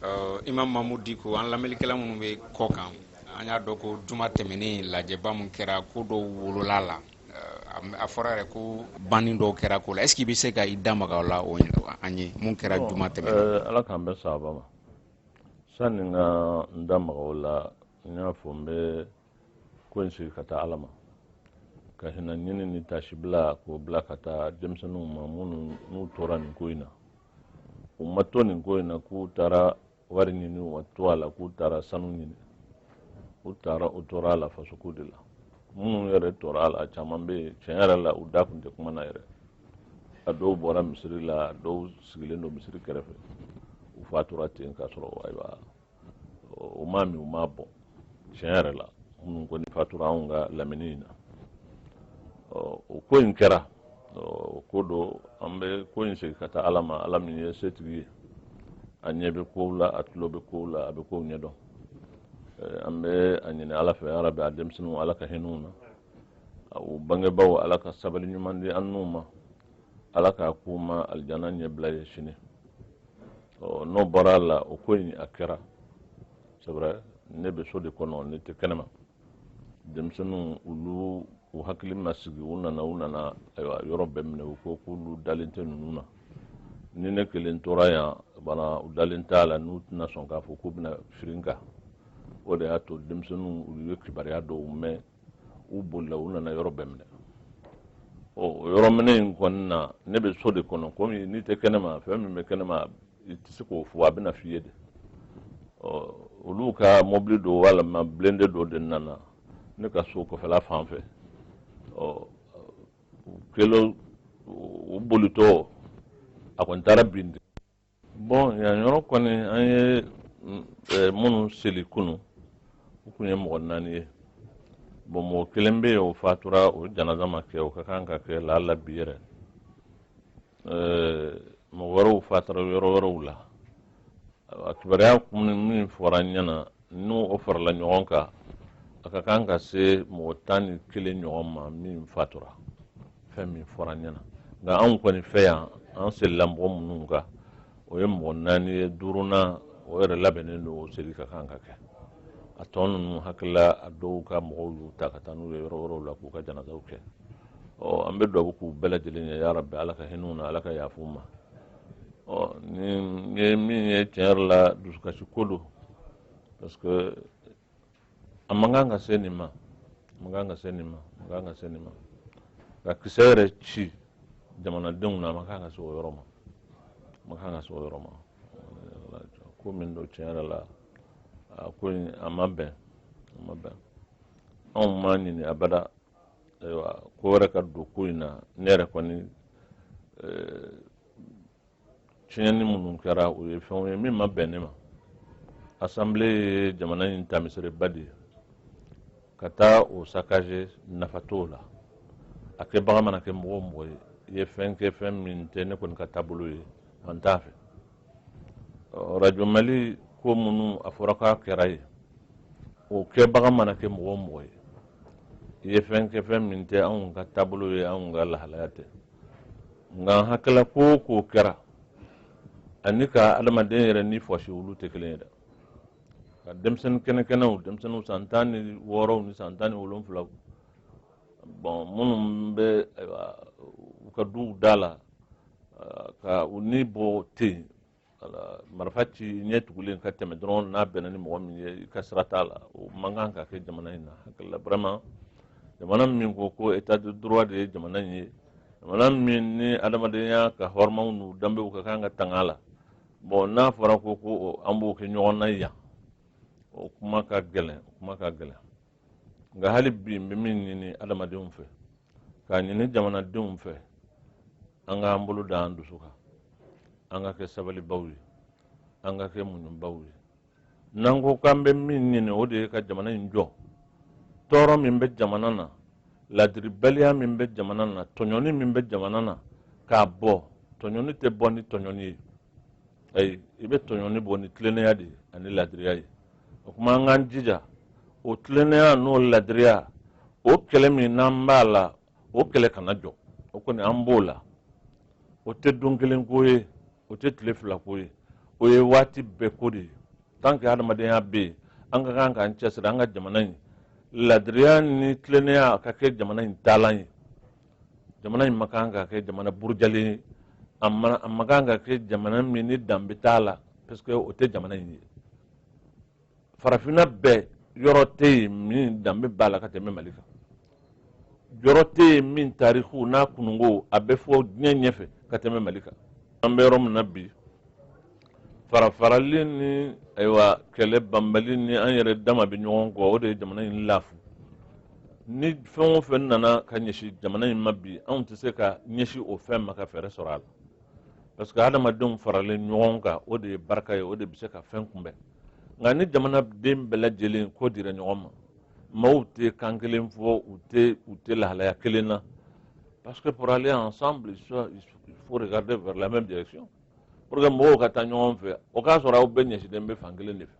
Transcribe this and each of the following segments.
uh, imam mamudu diko an lamɛnlikɛla minnu bɛ kɔ kan an y'a dɔn ko juma tɛmɛnen lajɛba min kɛra ko dɔw wolola la uh, a fɔra yɛrɛ ko banni dɔw kɛra ko la est ce que i bɛ se ka i da maga o la o an ye mun kɛra juma tɛmɛnen uh, ala k'an bɛn sawaba ma sanni n ka n da maga o la n y'a fɔ n bɛ ko in segin ka taa ala ma ka hinɛ ɲini ni tasibila k'o bila ka taa denmisɛnninw ma minnu n'u tora nin ko in na u ma to nin ko in na k'u taara wari ɲini u ma to a la k'u taara sanu ɲini u taara u tora a la fasoko de la minnu yɛrɛ tora a la caman bɛ yen tiɲɛ yɛrɛ la u da tun tɛ kuma na yɛrɛ a dɔw bɔra misiri la a dɔw sigilen don misiri kɛrɛfɛ u fatura ten k'a sɔrɔ ayiwa u ma min u ma bɔn tiɲɛ yɛrɛ la minnu kɔni fatura anw ka lamini in na o ko in kɛra o ko don an bɛ ko in segin ka taa ala ma ala min ye setigi ye a ɲɛ bɛ kow la a tulo bɛ kow la a bɛ kow ɲɛdɔn an bɛ a ɲini ala fɛ ala bɛ a denmisɛnninw ala ka hinɛ u na u bangebaaw ala ka sabali ɲuman di an n'u ma ala k'a k'u ma alijana ɲɛbila ye sini ɔ n'o bɔra a la o ko in a kɛra c'est vrai ne bɛ so de kɔnɔ ne tɛ kɛnɛma denmisɛnninw olu u hakili ma sigi u nana u nana ayiwa yɔrɔ bɛɛ minɛ u ko k'olu dalen tɛ ninnu na ni ne kelen tora yan bana u dalen t'a la n'u tɛna sɔn k'a fɔ k'u bɛna firi n kan o de y'a to denmisɛnninw u ye kibaruya dɔw mɛn u bolila u nana yɔrɔ bɛɛ minɛ ɔ o yɔrɔ minɛ in kɔnɔna ne bɛ so de kɔnɔ komi n'i tɛ kɛnɛma fɛn min bɛ kɛnɛma i tɛ se k'o fɔ a bɛna f'i ye de ɔ olu ka mɔbili don walima blindé dɔ de nana ne ka so kɔfɛla fan fɛ ɔ u kɛlen u bolitɔ a kɔni taara bin de bɔn yan yɔrɔ kɔni an ye eh, minnu seli kunu u tun ye mɔgɔ naani ye bɔn mɔgɔ kelen bɛ yen o fatura o janaza ma kɛ o ka kan ka kɛ laala bi yɛrɛ eh, mɔgɔ wɛrɛw fatura yɔrɔ wɛrɛw la a kibaruya min fɔra n ɲɛna n'o farala ɲɔgɔn kan a ka kan ka se mɔgɔ tan ni kelen ɲɔgɔn ma min fatura fɛn min fɔra n ɲɛna nka anw kɔni fɛ yan an selila mɔgɔ minnu kan o ye mɔgɔ naani ye duurunan o yɛrɛ labɛnnen don o seli ka kan ka kɛ a tɔ ninnu n hakili la a dɔw ka mɔgɔw y'u ta ka taa n'u ye yɔrɔ wɛrɛw la k'u ka janazaw kɛ ɔ an bɛ dubabu k'u bɛɛ lajɛlen ye yarabi ala ka hinɛ u na ala ka yafa u ma ɔ nin ye min ye tiɲɛ yɛrɛ la dusukasi ko don parce que a man kan ka se nin ma a man kan ka se nin ma a man kan ka se nin ma ka kisɛ yɛrɛ ci jamanadenw na a man kan ka se o yɔrɔ ma a man kan ka se o yɔrɔ ma ko min don tiɲɛ yɛrɛ la a ko in a ma bɛn a ma bɛn anw m'a ɲini abada ayiwa ko wɛrɛ ka don ko in na ne yɛrɛ kɔni eh, tiɲɛni minnu kɛra o ye fɛnw ye min ma bɛn ne ma assemblée ye jamana in taamaseereba de ye ka taa o saccager nafa t'o la a kɛbaga mana kɛ mɔgɔ o mɔgɔ ye i ye fɛn kɛ fɛn min tɛ ne kɔni ka taabolo ye an t'a fɛ radio mali ko minnu a fɔra k'a kɛra yen o kɛbaga mana kɛ mɔgɔ o mɔgɔ ye i ye fɛn kɛ fɛn min tɛ anw ka taabolo ye anw ka lahalaya tɛ nka n hakili la ko o ko kɛra ani ka adamaden yɛrɛ ni bɔsi olu tɛ kelen ye dɛ ka denmisɛnnin kɛnɛkɛnɛw denmisɛnninw san tan ni wɔɔrɔw ni san tan ni wolonwulaw bon minnu bɛ u ka duw da la ka u ni bɔ ten marifa ci ɲɛ tugulen ka tɛmɛ dɔrɔn n'a bɛnna ni mɔgɔ min ye i ka sira t'a la o man kan ka kɛ jamana in na n hakili la vraiment jamana min ko ko état de droit de ye jamana in ye jamana min ni adamadenya ka hɔrɔnyaw n'u danbew ka kan ka tanga la bon n'a fɔra ko ko an b'o kɛ ɲɔgɔn na yan o kuma ka gɛlɛn o kuma ka gɛlɛn nka hali bi n bɛ min ɲini adamadenw fɛ k'a ɲini jamanadenw fɛ an k'an bolo da an dusu kan an ka kɛ sabalibaw ye an ka kɛ muɲubaw ye n'an ko k'an bɛ min ɲini o de ye ka jamana in jɔ tɔɔrɔ min bɛ jamana na ladiribaliya min bɛ jamana na tɔɲɔni min bɛ jamana na k'a bɔ tɔɲɔni tɛ bɔ ni tɔɲɔni ye ayi i bɛ tɔɲɔni bɔ ni tilennenya de ye ani ladiriya ye o kuma an k'an jija o tilennenya n'o ladiriya o kɛlɛ min n'an b'a la o kɛlɛ kana jɔ o kɔni an b'o la o tɛ don kelen ko ye o tɛ tile fila ko ye o ye waati bɛɛ ko de ye tant que hadamadenya bɛ yen an ka kan k'an cɛsiri an ka jamana in ladiriya ni tilennenya ka kɛ jamana in taalan ye jamana in man kan ka kɛ jamana burujalen ye a man kan ka kɛ jamana min ni danbe t'a la parce que o tɛ jamana in ye farafinna bɛɛ yɔrɔ tɛ yen min danbe b'a la ka tɛmɛ mali kan yɔrɔ tɛ yen min tariku n'a kununko a bɛ fɔ diɲɛ ɲɛfɛ ka tɛmɛ mali kan an bɛ yɔrɔ min na bi farafarali ni ayiwa kɛlɛ banbali ni an yɛrɛ dama bɛ ɲɔgɔn kɔ o de ye jamana in lafu ni fɛn o fɛn nana ka ɲɛsin jamana in ma bi anw tɛ se ka ɲɛsin o fɛn ma ka fɛɛrɛ sɔrɔ a la parce que adamadenw faralen ɲɔgɔn kan o de ye barika ye o de bɛ se ka fɛn kunbɛn nka ni jamanaden bɛɛ lajɛlen kɔ dira ɲɔgɔn ma maaw tɛ kan kelen fɔ u tɛ u tɛ lahalaya kelen na parce que pour aller ensemble il faut regarder vers la même direction pour que mɔgɔw ka taa ɲɔgɔn fɛ o k'a sɔrɔ aw bɛɛ ɲɛsilen bɛ fan kelen de fɛ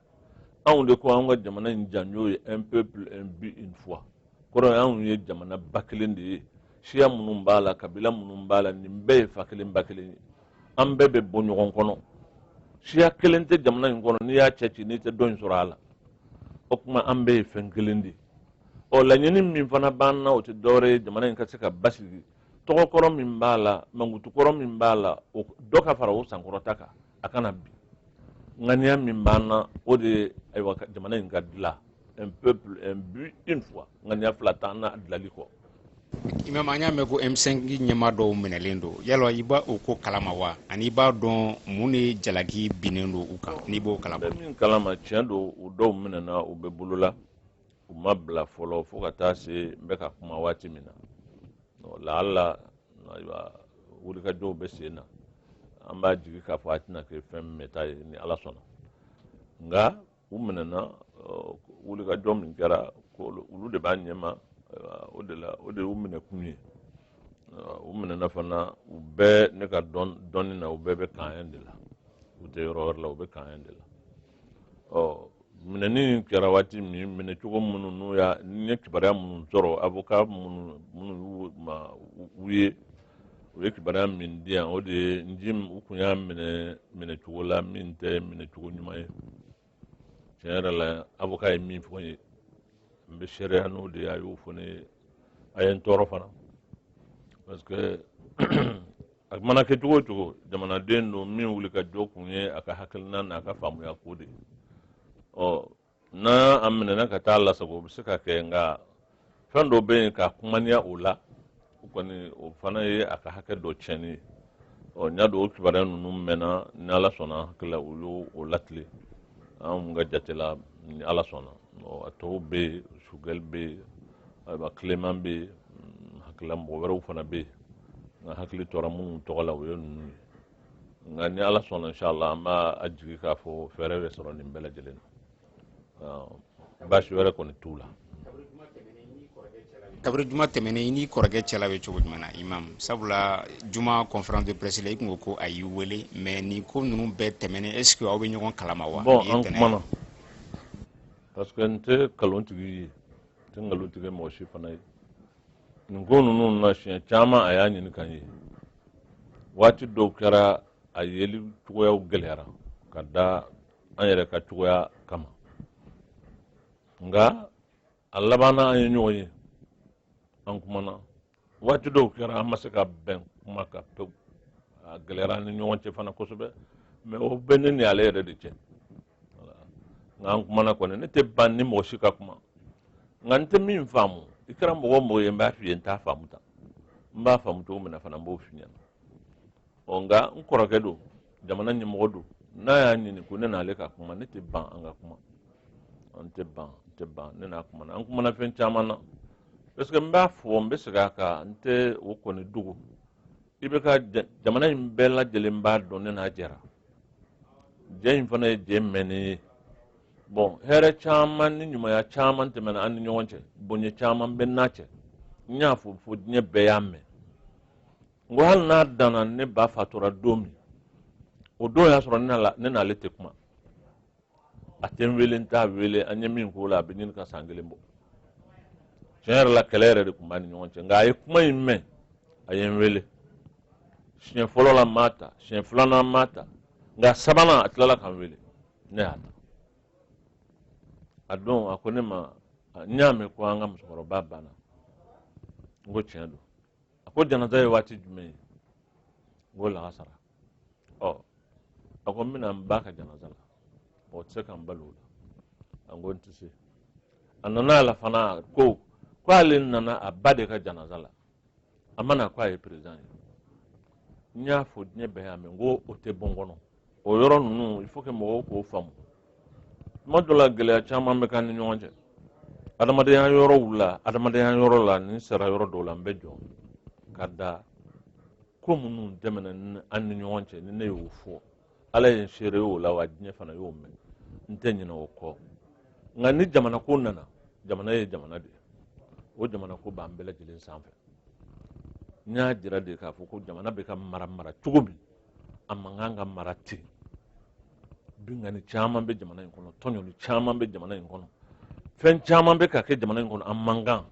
anw de ko anw ka jamana in janjo ye un peuple un but une foi kɔrɔ ye anw ye jamana ba kelen de ye siya minnu b'a la kabila minnu b'a la nin bɛɛ ye fa kelen ba kelen ye an bɛɛ bɛ bɔ ɲɔgɔn kɔnɔ siya kelen tɛ jamana in kɔnɔ n'i y'a cɛ ci n'i tɛ dɔ in sɔrɔ a la o tuma an bɛɛ ye fɛn kelen de ye ɔ laɲini min fana b'an na o tɛ dɔwɛrɛ ye jamana in ka se ka basigi tɔgɔkɔrɔ min b'a la mankutukɔrɔ min b'a la o dɔ ka fara o sankɔrɔta kan a kana bin ŋaniya min b'an na o de ye ayiwa jamana in ka dilan un peuple un but une foi ŋaniya fila t'an na dilali kɔ imam an y'a mɛn ko m5 ɲɛmaa dɔw minɛlen don yala i b'a o ko kalama wa ani i b'a dɔn mun de jalaki binnen don u kan n'i b'o kalama min kalama tiɲɛ don u dɔw minɛna u bɛ bolo la u ma bila fɔlɔ fo ka taa se n bɛ ka kuma waati min na lahala ayiwa wulikajɔw bɛ sen na an b'a jigi k'a fɔ a tɛna kɛ fɛn mɛɛnta ye ni ala sɔnna nka u minɛna wulikajɔ min kɛra olu de b'a ɲɛma o de la o de y'u minɛ kun ye u minɛna fana u bɛɛ ne ka dɔnni na u bɛɛ bɛ camp un de la u tɛ yɔrɔ wɛrɛ la u bɛ camp un de la ɔ minɛni kɛra waati min minɛcogo minnu n'u y'a n ye kibaruya minnu sɔrɔ avoka minnu minnu y'u maaw ye u ye kibaruya min di yan o de ye n'djim u kun y'a minɛ minɛcogo la min tɛ minɛcogo ɲuman ye tiɲɛ yɛrɛ la avoka ye min fɔ n ye n bɛ seereya n'o de ye a y'o fɔ ne ye a ye n tɔɔrɔ fana parce que a mana kɛ cogo o cogo jamanaden don min wuli ka jɔ kun ye a ka hakilina n'a ka faamuya ko de ɔ n'a a minɛna ka t'a lasago o bɛ se ka kɛ nka fɛn dɔ bɛ yen ka kumaniya o la o kɔni o fana ye a ka hakɛ dɔ tiɲɛni ye ɔ n y'a dɔn o kibaruya ninnu mɛnna ni ala sɔnna hakili la o y'o o latilen an ka jate la ni ala sɔnna ɔ a tɔw bɛ yen choguel bɛ yen ayiwa clément bɛ yen hakili la mɔgɔ wɛrɛw fana bɛ yen nka hakili tora minnu tɔgɔ la o ye ninnu ye nka ni ala sɔnna inshallah an b'a a jigi k'a fɔ fɛɛrɛ bɛ sɔrɔ nin bɛɛ lajɛlen na baasi wɛrɛ kɔni t'u la kabiri juma tɛmɛnen i n'i kɔrɔkɛ cɛla bɛ cogo jumɛn na imam sabula juma conférence de presse la i tun ko ko a y'i wele mais nin ko ninnu bɛɛ tɛmɛnen est ce que aw bɛ ɲɔgɔn kalama wa bon an kumana parce que n tɛ nkalon tig'i ye n tɛ nkalon tigɛ mɔgɔ si fana ye nin ko ninnu na siɲɛ caman a y'a ɲini ka n ye waati dɔw kɛra a yeli cogoya gɛlɛyara ka da an yɛrɛ ka cogoya kama nka a labanna an ye ɲɔgɔn ye an kumana waati dɔw kɛra an ma se ka bɛn kuma kan pewu a gɛlɛyara an ni ɲɔgɔn cɛ fana kosɛbɛ mais o bɛ ne ni ale yɛrɛ de cɛ nka an kumana kɔni ne tɛ ban n ni mɔgɔ si ka kuma nka n tɛ min faamu i kɛra mɔgɔ o mɔgɔ ye n b'a f'i ye n t'a faamu tan n b'a faamu cogo min na fana n b'o f'i ɲɛna ɔ nka n kɔrɔkɛ don jamana ɲɛmɔgɔ don n'a y'a ɲini ko ne n'ale ka kuma ne tɛ ban an ka kuma n tɛ ban n tɛ ban ne n'a kumana an kumana fɛn caman na parce que n b'a fɔ n bɛ segin a kan n tɛ o kɔni dogo i bɛ ka jamana in bɛɛ lajɛlen b'a dɔn ne n'a jɛra jɛ in fana ye jɛ mɛnnen ye bon hɛrɛ caman ni ɲumanya caman tɛmɛna an ni ɲɔgɔn cɛ bonya caman bɛ n n'a cɛ n y'a fɔ fo diɲɛ bɛɛ y'a mɛn n ko hali n'a danna ne ba fatura don min o don y'a sɔrɔ ne n'ale tɛ kuma a tɛ n wele n t'a wele an ye min k'o la a bɛ ɲini ka san kelen bɔ tiɲɛ yɛrɛ la kɛlɛ yɛrɛ de tun b'an ni ɲɔgɔn cɛ nka a ye kuma in mɛn a ye n wele siɲɛ fɔlɔ la n m'a ta siɲɛ filanan n m'a ta nka sabanan a tilala ka n wele ne y'a ta a don a ko ne ma n y'a mɛn ko an ka musokɔrɔba banna n ko tiɲɛ don a ko janaza ye waati jumɛn ye n ko lagansara ɔ a ko n bɛna n ba ka janaza la o tɛ se ka n bali o la a ko n tɛ se a nana a la fana ko ko ale nana a ba de ka janaza la a ma na ko a ye perezidan ye n y'a fɔ diɲɛ bɛɛ y'a mɛn n ko o tɛ bɔ n kɔnɔ o yɔrɔ ninnu il faut que mɔgɔw k'o faamu tuma dɔ la gɛlɛya caman bɛ k'an ni ɲɔgɔn cɛ adamadenya yɔrɔw la adamadenya yɔrɔ la ni n sera yɔrɔ dɔw la n bɛ jɔ ka da ko minnu tɛmɛna an ni ɲɔgɔn cɛ ni ne y'o fɔ ala ye n seere y'o la wa diɲɛ fana y'o mɛn n tɛ ɲinɛ o kɔ nka ni jamana ko nana jamana ye jamana de ye o jamana ko b'an bɛɛ lajɛlen sanfɛ n y'a jira de k'a fɔ ko jamana bɛ ka mara mara cogo min a man kan ka mara ten binkanni caman bɛ jamana in kɔnɔ tɔɲɔni caman bɛ jamana in kɔnɔ fɛn caman bɛ ka kɛ jamana in kɔnɔ a man kan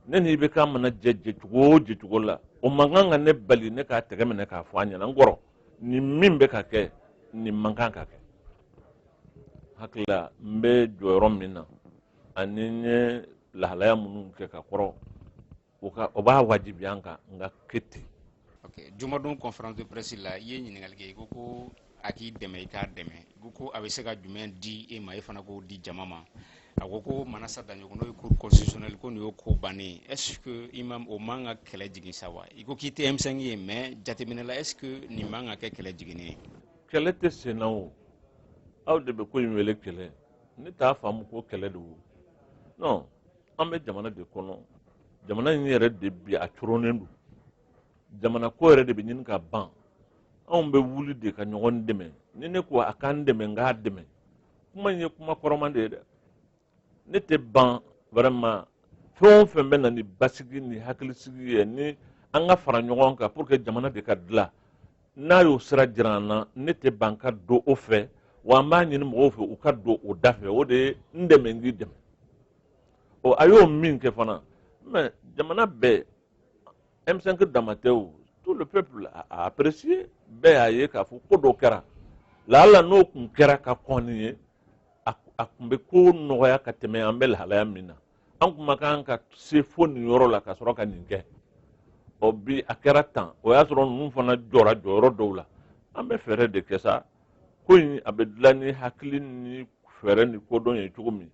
ne ni IBK mana jɛ jɛcogo o jɛcogo la o man kan ka ne bali ne k'a tɛgɛ minɛ k'a fɔ a ɲɛna n kɔrɔ nin min bɛ ka kɛ nin man kan ka kɛ hakili la n bɛ jɔyɔrɔ min na ani n ye lahalaya minnu kɛ ka kɔrɔ o ka o b'a wajibiya n kan n k'a kɛ ten. ok jumadon conférence de presse la i ye ɲininkali kɛ i ko ko a k'i dɛmɛ i k'a dɛmɛ ko ko a bɛ se ka jumɛn di e ma e fana k'o di jama ma a ko ko manasa daɲɔkɔ n'o ye cour constitutionnelle ko nin y'o ko bannen ye est ce que i ma o man ka kɛlɛ jigin sa wa i ko k'i tɛ M5 ye mais jateminɛ la est ce que nin man ka kɛ kɛlɛ jiginni ye kɛlɛ tɛ sen na o aw de bɛ ko in wele kɛlɛ ne t'a faamu ko kɛlɛ don non an bɛ jamana de kɔnɔ jamana in yɛrɛ de bi a coronnen don jamana ko yɛrɛ de bɛ ɲini ka ban anw bɛ wuli de ka ɲɔgɔn dɛmɛ ni ne ko a k'an dɛmɛ n k'a dɛmɛ kuma in ye kuma kɔrɔma de ye dɛ ne tɛ ban vraiment fɛn o fɛn bɛ na ni basigi ni hakilisigi ye ni an ka fara ɲɔgɔn kan pour que jamana de ka dilan n'a y'o sira jira an na ne tɛ ban ka don o fɛ wa an b'a ɲini mɔgɔw fɛ u ka don o da fɛ o de ye n dɛmɛ n k'i dɛmɛ ɔ a y'o min kɛ fana mɛ jamana bɛɛ M5 dama tɛ o tout le peuple a apprécié bɛɛ y'a ye k'a fɔ ko dɔ kɛra laala n'o tun kɛra ka kɔn nin ɲɛ a tun bɛ ko nɔgɔya ka tɛmɛ an bɛ lahalaya min na an tun man kan ka se fo nin yɔrɔ la ka sɔrɔ ka nin kɛ ɔ bi a kɛra tan o y'a sɔrɔ ninnu fana jɔra jɔyɔrɔ dɔw la an bɛ fɛɛrɛ de kɛ sa ko in a bɛ dilan ni hakili ni fɛɛrɛ ni kodɔn ye cogo min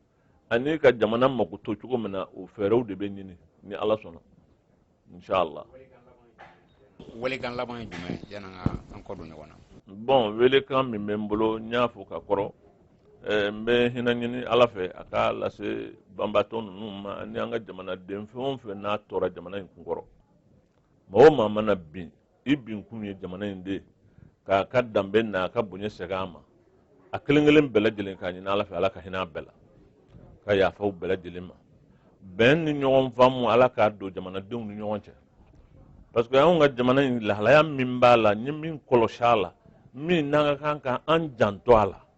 ani ka jamana mako to cogo min na o fɛɛrɛw de bɛ ɲini ni ala sɔnna inshallah welekan laban ye jumɛn ye yanni an ka an kɔ don ɲɔgɔn na bɔn welekan min bɛ n bolo n y'a fɔ ka kɔrɔ eh, n bɛ hinɛ ɲini ala fɛ a k'a lase banbaatɔ ninnu ma ani an ka jamanaden fɛn o fɛn n'a tora jamana in kun kɔrɔ mɔgɔ maa mana bin i bin kun ye jamana in de k'a ka danbe n'a ka bonya segin a ma a kelen kelen bɛɛ lajɛlen k'a ɲini ala fɛ ala ka hinɛ a bɛɛ la ka yafa u bɛɛ lajɛlen ma bɛn ni ɲɔgɔn faamu ala k'a don jamanadenw ni ɲɔgɔn cɛ parce que anw ka jamana in lahalaya min b'a la n ye min kɔlɔsi a la min n'an ka kan ka an janto a la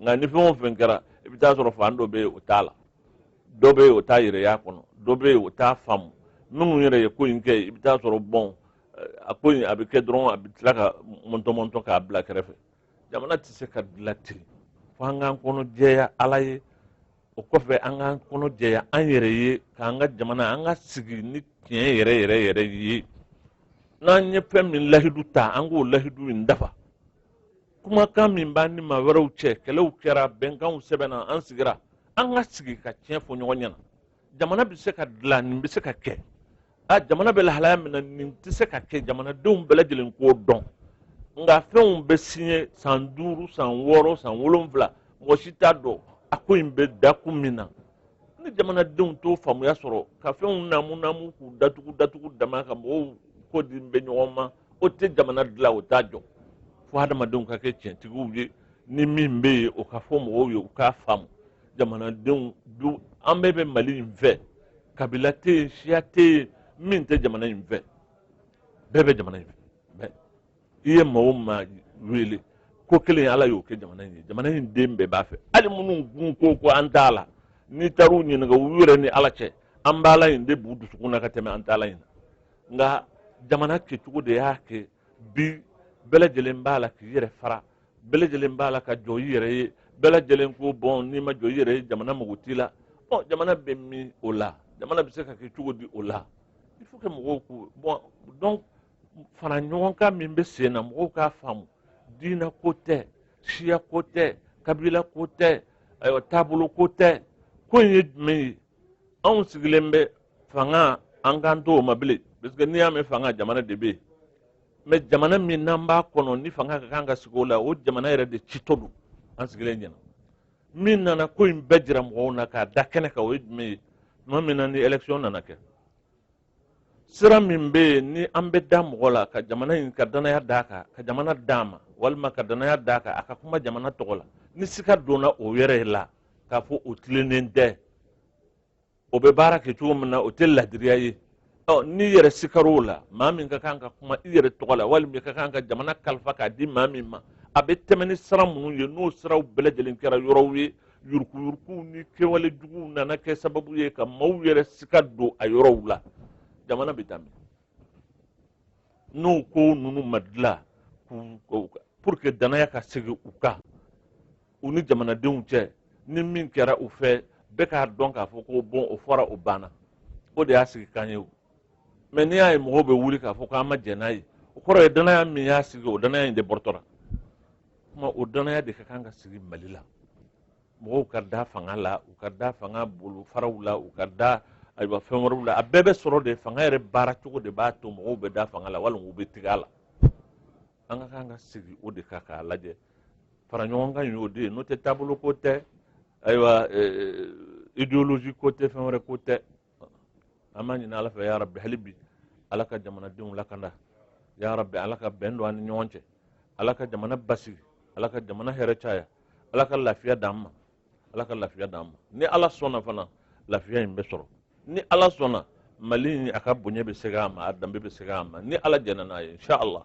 nka ni fɛn o fɛn kɛra i bɛ taa sɔrɔ fan dɔ bɛ yen o t'a la dɔ bɛ yen o t'a yɛrɛ y'a kɔnɔ dɔ bɛ yen o t'a faamu minnu yɛrɛ ye ko in kɛ i bɛ taa sɔrɔ bɔn a ko in a bɛ kɛ dɔrɔn a bɛ tila ka mɔntɔmɔntɔ k'a bila kɛrɛfɛ jamana tɛ se ka dilan ten fo an k'an kɔnɔ jɛya ala ye o kɔfɛ an k'an kɔnɔ jɛya an yɛrɛ ye k'an ka jamana an ka sigi ni tiɲɛ yɛrɛ yɛrɛ yɛrɛ ye n'an ye fɛn min lahidu ta an k'o lahidu in dafa kumakan min b'an ni maa wɛrɛw cɛ kɛlɛw kɛra bɛnkanw sɛbɛnna an sigira an ka sigi ka tiɲɛ fɔ ɲɔgɔn ɲɛna jamana bɛ se ka dilan nin bɛ se ka kɛ a jamana bɛ lahalaya min na nin tɛ se ka kɛ jamanadenw bɛɛ lajɛlen k'o dɔn nka fɛnw bɛ siɲe san duuru san wɔɔrɔ san wolonwula mɔgɔ si t'a dɔn a ko in bɛ da kun min na ni jamanadenw t'o faamuya sɔrɔ ka fɛnw namu namu k'u datugu datugu dama ka mɔgɔw kɔ di bɛ ɲɔgɔn ma o tɛ jamana dilan o t'a jɔ fo hadamadenw ka kɛ tiɲɛtigiw ye ni min bɛ yen o ka fɔ mɔgɔw ye u k'a faamu jamanadenw dun an bɛɛ bɛ mali in fɛ kabila tɛ yen siya tɛ yen min tɛ jamana in fɛ bɛɛ bɛ jamana in fɛ mais i ye maa o maa wele ko kelen ala y'o kɛ jamana in ye jamana in den bɛɛ b'a fɛ hali minnu kun ko ko an t'a la n'i taar'u ɲininka u yɛrɛ ni ala cɛ an b'a la in de b'u dusukun na ka tɛmɛ an t'a la in na nka jamana kɛcogo de y'a kɛ bi bɛɛ lajɛlen b'a la k'i yɛrɛ fara bɛɛ lajɛlen b'a la ka jɔ i yɛrɛ ye bɛɛ lajɛlen ko bon n'i ma jɔ i yɛrɛ ye jamana mago t'i la bon jamana bɛ min o la jamana bɛ se ka kɛ cogo di o la il faut que mɔgɔw k'u bon donc fara ɲɔgɔn kan min bɛ sen na mɔgɔw k'a faamu diinɛ ko tɛ siya ko tɛ kabila ko tɛ ayiwa taabolo ko tɛ ko in ye jumɛn ye anw sigilen bɛ fanga an kan t'o ma bilen parce que n'i y'a mɛn fanga jamana de bɛ yen mais jamana min n'an b'a kɔnɔ ni fanga ka kan ka sigi o la o jamana yɛrɛ de citɔ don an sigilen ɲɛna min nana ko in bɛɛ jira mɔgɔw na k'a da kɛnɛ kan o ye jumɛn ye tuma min na ni élection nana kɛ sira min bɛ yen ni an bɛ da mɔgɔ la ka jamana in ka danaya d'a kan ka jamana d'a ma walima ka danaya d'a kan a ka kuma jamana tɔgɔ la ni sika donna o yɛrɛ la k'a fɔ o tilennen tɛ o bɛ baara kɛ cogo min na o tɛ ladiriya ye ɔ n'i yɛrɛ sikar'o la maa min ka kan ka kuma i yɛrɛ tɔgɔ la walima i ka kan ka jamana kalifa k'a di maa min ma a bɛ tɛmɛ ni sira minnu ye n'o siraw bɛɛ lajɛlen kɛra yɔrɔw ye yurukuyurukuw ni kɛwale juguw nana kɛ sababu ye ka maaw yɛrɛ sika don a yɔrɔw la jamana bɛ taa min n'o ko ninnu ma dilan pour que danaya ka segin u kan u ni jamanadenw cɛ ni min kɛra u fɛ bɛɛ k'a dɔn k'a fɔ ko bon o fɔra o banna o de y'a sigikan ye o mais n'i y'a ye mɔgɔw bɛ wuli k'a fɔ k'an ma jɛn n'a ye o kɔrɔ ye danaya min y'a sigi o danaya in de bɔrɔtɔra kuma o danaya de ka kan ka sigi mali la mɔgɔw ka da fanga la u ka da fanga bolofaraw la u ka da ayiwa fɛn wɛrɛw la a bɛɛ bɛ sɔrɔ de fanga yɛrɛ baara cogo de b'a to mɔgɔw bɛ da fanga la walima u bɛ tigɛ a la an ka kan ka sigi o de kan k'a lajɛ fara ɲɔgɔn kan y'o de ye n'o tɛ taabolo ko tɛ ayiwa eh, eh, idéologie ko tɛ fɛn wɛrɛ ko tɛ an b'a ɲini ala fɛ ya rabbi hali bi ala ka jamanadenw lakanda ya rabbi ala ka bɛn don an ni ɲɔgɔn cɛ ala ka jamana basigi ala ka jamana hɛrɛ caya ala ka lafiya d'an ma ala ka lafiya d'an ma ni ala sɔnna fana lafiya in bɛ sɔrɔ ni ala sɔnna mali in a ka bonya bɛ segin a ma a danbe bɛ segin a ma ni ala jɛnna n'a ye inshallah